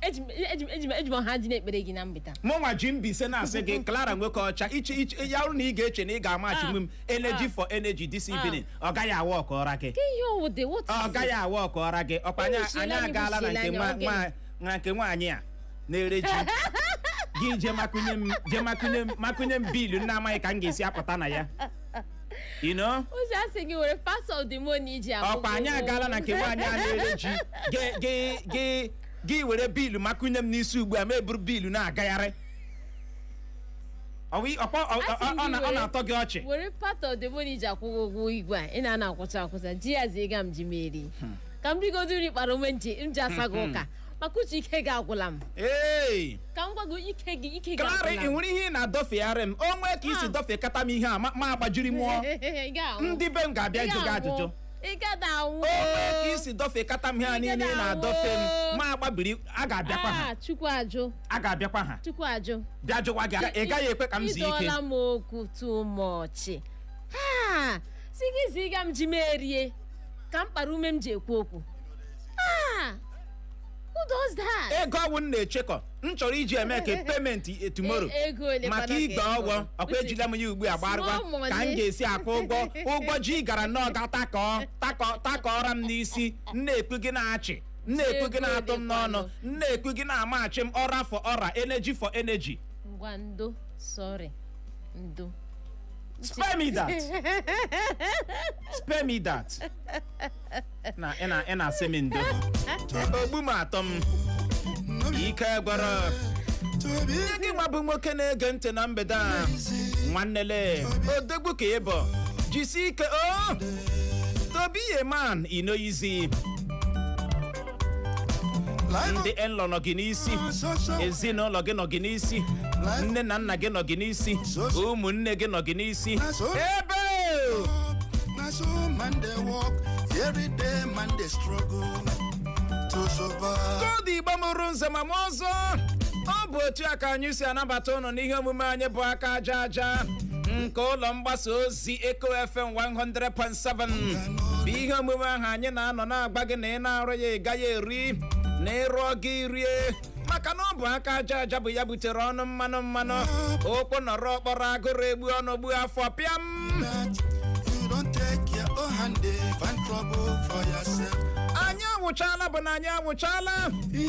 eji m- eji m- eji m eji m ọha ji na-ekpere gị na mgbede a. mụnwa ji Mbaise na-asị gị Clara nwoke ọcha iche iche ya bụrụ na ị ga-eche na ị ga-amachi m energy for energy this evening ọ gaghị aworkọra gị Ka ihe owu dị what ọ is gaghị it? aworkọra gị ọkwa anyị Ibuchiela anyị anyị, agaala na nke ibuchiela nwa- anyị, nwa- na nke nwaanyị a na-ere ji gị je makunye m je makunye m makunye m bill m na-amaghị ka m ga-esi apụta na ya you know ụzọ a sị gị were part of the money iji akwụ ọkwa anyị ụgwọ. agaala na nke nwaanyị a na-ere ji Gị- gị- gị- gị were bill makunye m n'isi ugbu a mụ eburu bill na-agagharị Ọ wụ- ọkwa- ọ- ọ- ọ- ọ na- ọ na-atọ gị ọchị were part of the money ji akwụ ụgwọ igwe a ị na-ana akwụcha akwụcha ji ya ziga m ji m eri ka m rigodo nri kpara ume m ji m ji asa gị ụka maka uche ike ga-agwụla m Hey! ka m gwa gị ike gị ike gị Clara ị nwere ihe ị na-adọfegharị m o nwee ka ị si Ah. dọfekata m ihe a ma mụ agbajiri nwụọ Ị ga-anwụ. ndị be m ga-abịa ịjụ gị ga-anwụ. ajụjụ Ị gaghị anwụ. o nwee ka ị si dọfekata m ihe a niile ị na-adọfe m mụ agbabiri a ga-abịakwa ha Ah, Chukwu ajụ a ga-abịakwa ha Chukwu ajụ bịa jụwa gị ị gaghị ekwe ka m zie ike ịdọọla m okwu too much Ah, sị gị ziga m ji m erie ka m kpara ume m ji ekwu okwu Ah, Who does that? ego ọ wụ m na-echekọ m chọrọ iji emake a payment eh, tomorrow E- ego ole maka kwana igwe ka ị ọgwọ gụrụ? ọkwa Uche, ejila m ya ugbu a gbarịwa small money. ka m ga-esi akwụ ụgwọ ụgwọ ji gara nnọọ ga takọọ takọ takọọra m n'isi m na-ekwu gị na-achị m na-ekwu gị Ego na-atụ m ole n'ọnụ kwanụ? m na-ekwu gị na-amachi m aura for aura energy for energy Ngwa ndo, sorry. Ndo. spare me that spare me that na- ị na- ị na-asị m ndo ogbu m atọ m ike gwụrụ onye gị nwa bụ nwoke na-ege ntị na mgbede a nwanne le odogwu ka ị bụ jisi ike o to be a man e no easy ndị in-law nọ gị n'isi ezinụlọ gị nọ gị n'isi nne na nna gị nọ gị n'isi ụmụnne gị nọ gị n'isi ebe So man dey work, every day man dey struggle to survive. Ka ọ dị Igbo mụrụ nze ma ma ọzọ ọ bụ otu a ka anyị si anabata ụnụ n'ihe omume anyị bụ aka aja aja nke ụlọ mgbasa ozi Eko FM 100.7 bụ ihe omume ahụ anyị na-anọ na-agwa gị na ị na-arụghị ị gaghị eri na ị rụọ gị rie maka na ọ bụ aka aja aja bụ ya butere ọnụ mmanụ mmanụ okpo nọrọ ọkpọrọ agụrụ egbu ọnụ gbuo afọ pịam that you don take your own hand dey find trouble for yourself. anyị awụchaala bụ na anyị awụchaala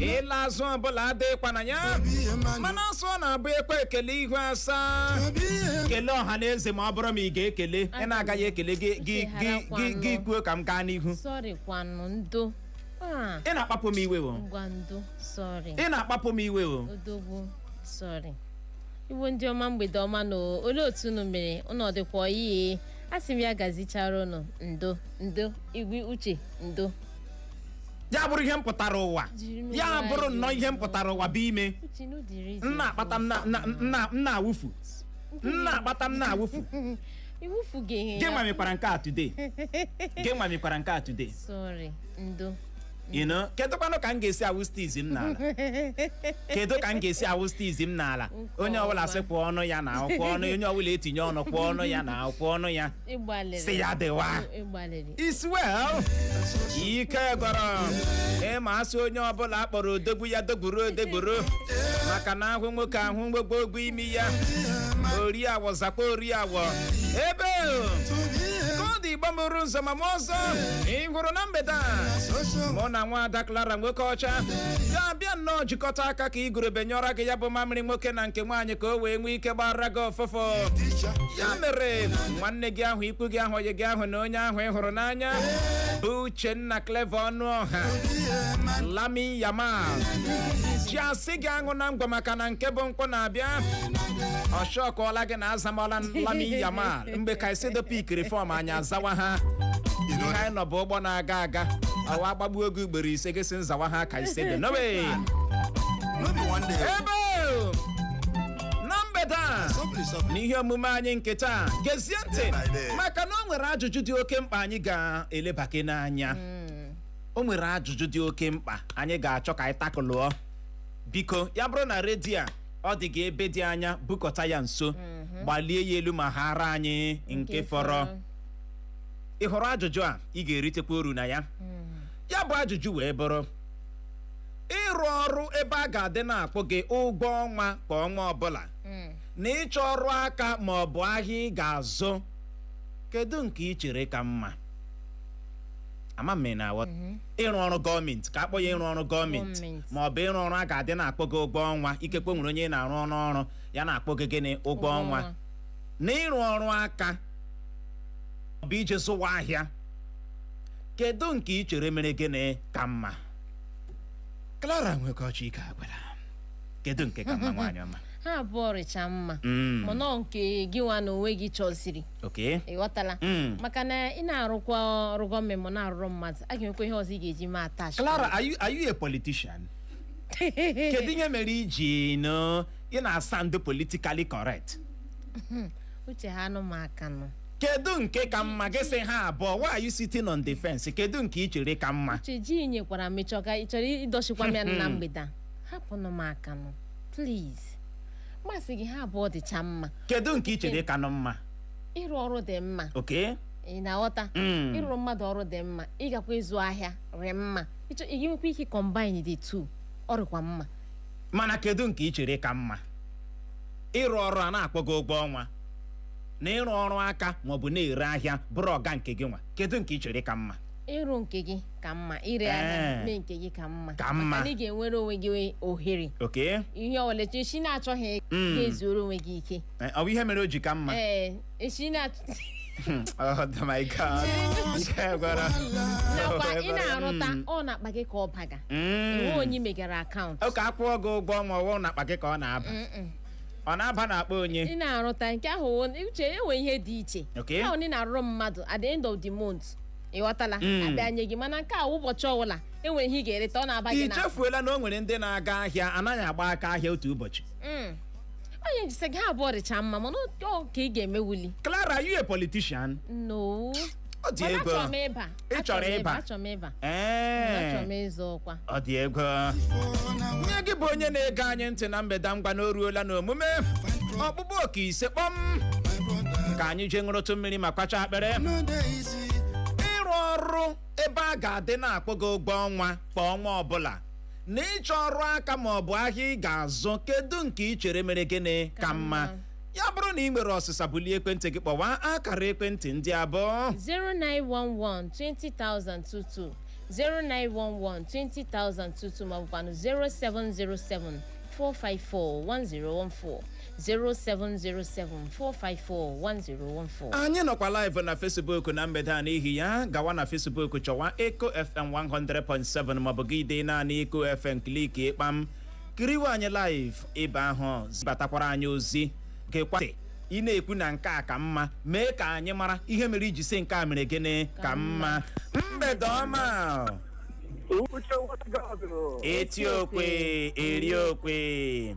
ịla azụ ọbụla adịghịkwa na ya Be a man, mana a sị ọ na-abụ ekwe ekele ihu asaa be a kele ọha na eze ma ọ bụrụ ma ị ga-ekele ị na-agaghị ekele gị gị gị gị gị kwuo ka m gaa n'ihu sorry kwanụ ndo Ah, ị na-akpapụ m iwe o ngwa ndo sorry ị na-akpapụ m iwe o odogwu sorry Igbo ndị ọma mgbede ọma na o- olee otu unu mere unu ọ dịkwa ọyị a sị m ya gazichara unu ndo ndo igwe uche ndo ya bụrụ ihe m pụtara ụwa Jiri m ya nwayọọ. bụrụ nnọọ ihe m pụtara ụwa bụ ime uche na ụdịrị izi nna akpata m na- na- na- m na-awụfu nna akpata m na-awụfu iwufughị ihe gị ya. mamikwara nke a today gị mamikwara nke a today sorry ndo you know kedụkwanụ ka m ga-esi awụ steeze m n'ala kedu ka m ga-esi awụ steeze m n'ala Nke onye ọbụla ọma. sị kwụọ ọnụ ya na akwụkwọ ọnụ onye ọbụla etinye ọnụ kwụọ ọnụ ya na akwụkwọ ọnụ ya ịgbalịrị sị ya dịwa ịgbalịrị is well ike gwụrụ ị ma a sị onye ọbụla a kpọrọ odogwu ya dogburu odegburu maka na a hụ nwoke a hụ mgbọrọgwụ imi ya ori awọ zakwa ori awọ ebe kọdụ Igbo mụrụ nze ma mụọ ọzọ ị hụrụ na mgbede a mụ na nwa ada Clara Nwokocha ga-abịa nnọọ jikọta aka ka igurube nyụọrọ gị ya bụ mamịrị nwoke na nke nwaanyị ka o wee nwee ike gbara gị ụfụfụ ya mere nwanne gị ahụ ikwu gị ahụ ọyị gị ahụ na onye ahụ ị hụrụ n'anya bụ Uchenna Clever Ọnụọha Lamine Yamal ji asị gị aṅụna ngwọ maka na nke bụ nkwụ na-abịa ọ shọkụọla gị na azamọla Lamine Yamal mgbe Caicedo pickiri form anyị azawa aha ihe anyị nọ bụ ụgbọ na-aga aga awa agbagbuo gị ugboro ise gị sị m zawa aha Caicedo no way No be one day. ebe na mgbede a Sọpụrụ sọpụrụ. n'ihe omume anyị nke taa gezie ntị Day by day. maka na o nwere ajụjụ dị oke mkpa anyị ga-elebake n'anya o nwere ajụjụ dị oke mkpa anyị ga-achọ ka anyị takụlụọ biko ya bụrụ na redio a ọ dị gị ebe dị anya bukọta ya nso gbalie ya elu ma haara anyị nke fọrọ ị hụrụ ajụjụ a ị ga-eritekwa uru na ya ya bụ ajụjụ wee bụrụ ịrụ ọrụ ebe a ga-adị na-akwụ gị ụgwọ ọnwa kwa ọnwa ọbụla Mm. na ịchọ ọrụ aka ma ọ bụ ahịa ị ga-azụ kedu nke ị chere ka mma ama m ị na-aghọta Mhm. ịrụ ọrụ gọọmenti ka a kpọọ ya ịrụ ọrụ gọọmenti Gọọmenti. ma ọ bụ ịrụ ọrụ a ga-adị na-akwụ gị ụgwọ ọnwa ikekwe nwere onye ị na-arụrụ ọrụ ya na-akwụ gị gịnị ụgwọ ọnwa na ịrụ ọrụ aka ọ bụ ije zụwa ahịa kedu nke ị chere mere gịnị ka mma Clara Nwokocha ka a gwara kedu nke ka mma nwaanyị ọma ha abụọ rịcha mma Mm. mana ọ nke gị nwa na onwe gị chọziri okay ị ghọtala Mm. maka na ị na-arụkwa ọrụ gọọmenti ma na-arụrụ mmadụ a ga-enwekwa ihe ọzọ ị ga-eji mee attach Clara are you, are you a politician kedu ihe mere i ji nụ ị na-asound politically correct Uche haanụ m aka nụ kedu nke ka mma gị sị ha abụọ why are you sitting on the fence kedu nke ị chere ka mma uche ji nyekwara m ịchọ ka ị chọrọ ịdọchikwa m ya na mgbede a hapụnụ m aka nụ please m asị gị ha abụọ dịcha mma kedu nke ị chere kanụ mma ịrụ ọrụ dị mma okay ị na-aghọta Mm. ịrụrụ mmadụ ọrụ dị mma ịgakwa ịzụ ahịa rị mma ịchọ ị ga-enwekwa ike combine the two ọ rịkwa mma mana kedu nke ị chere ka mma ịrụ ọrụ a na-akwụ gị ụgwọ ọnwa na ịrụ ọrụ aka maọbụ na-ere ahịa bụrụ ọga nke gị nwa kedu nke ị chere ka mma ịrụ nke gị ka mma ire Ee. ahịa mee nke gị ka mma Ka mma. maka na ị ga-enwere onwe gị ohere oke ihe ọbụla echi echi na-achọghị Mm. ga-ezuoro onwe gị ike Eh, ọ bụ ihe mere o ji ka mma ee echi na oh the- my god ike gwụrụ nakwa ị na-arụta Mm. ọ n'akpa gị ka ọ baga Mm. enwe onye megara akaụntụ okay a kwụọ gị ụgwọ ọnwa ọ wụ n'akpa gị ka ọ na-aba Mm-mm. ọ na-aba n'akpa onye ị na-arụta nke ahụ wụ- Uche e nwere ihe dị iche Okay. Nke ahụ na ị na-arụrụ mmadụ at the end of the month ị ghọtala Mm. a bịa nye gị mana nke a wụ ụbọchị ọbụla enwere ihe ị ga-ereta ọ na-aba gị i na chefuola na o nwere ndị na-aga ahịa anaghị agba aka ahịa otu ụbọchị Mm. ọ ihe m ji sị gị ha abụọ rịcha mma mana ọ nke ị ga-emewuli Clara are you a politician no ọ dị mana egwu achọrọ m ịba ị chọrọ ịba achọrọ m ịba achọrọ m ee ịzọ ọkwa ọ dị egwu nye gị bụ onye na-ege anyị ntị na mgbede a ngwa na o ruola n'omume ọkpụkpọ oku ise kpọm ka anyị jee ṅụrụtụ mmiri ma kwachaa akpịrị ịrụ ọrụ ebe a ga-adị na-akwụ gị ụgwọ ọnwa kwa ọnwa ọbụla na ịchọ ọrụ aka ma ọ bụ ahịa ị ga-azụ kedu nke ị chere mere gịnị ka mma ya bụrụ na ị nwere ọsịsa bulie ekwentị gị kpọwa akara ekwentị ndị abụọ 0911-2022 0911-2022 maọbụkwanụ 0707 454-1014 07074541014 anyị nọkwa live na Facebook na mgbede a n'ihi ya gawa na Facebook chọwa Eco FM 100.7 maọbụ gị dee naanị Eco FM kliki kpam kiriwe anyị live ebe ahụ zibatakwara anyị ozi gekwatị ị na-ekwu na nke a ka mma mee ka anyị mara ihe mere i ji sị nke a mere gịnị ka mma mgbede ọma Uche nwa gị ọdụrụ. eti okwe eri okwe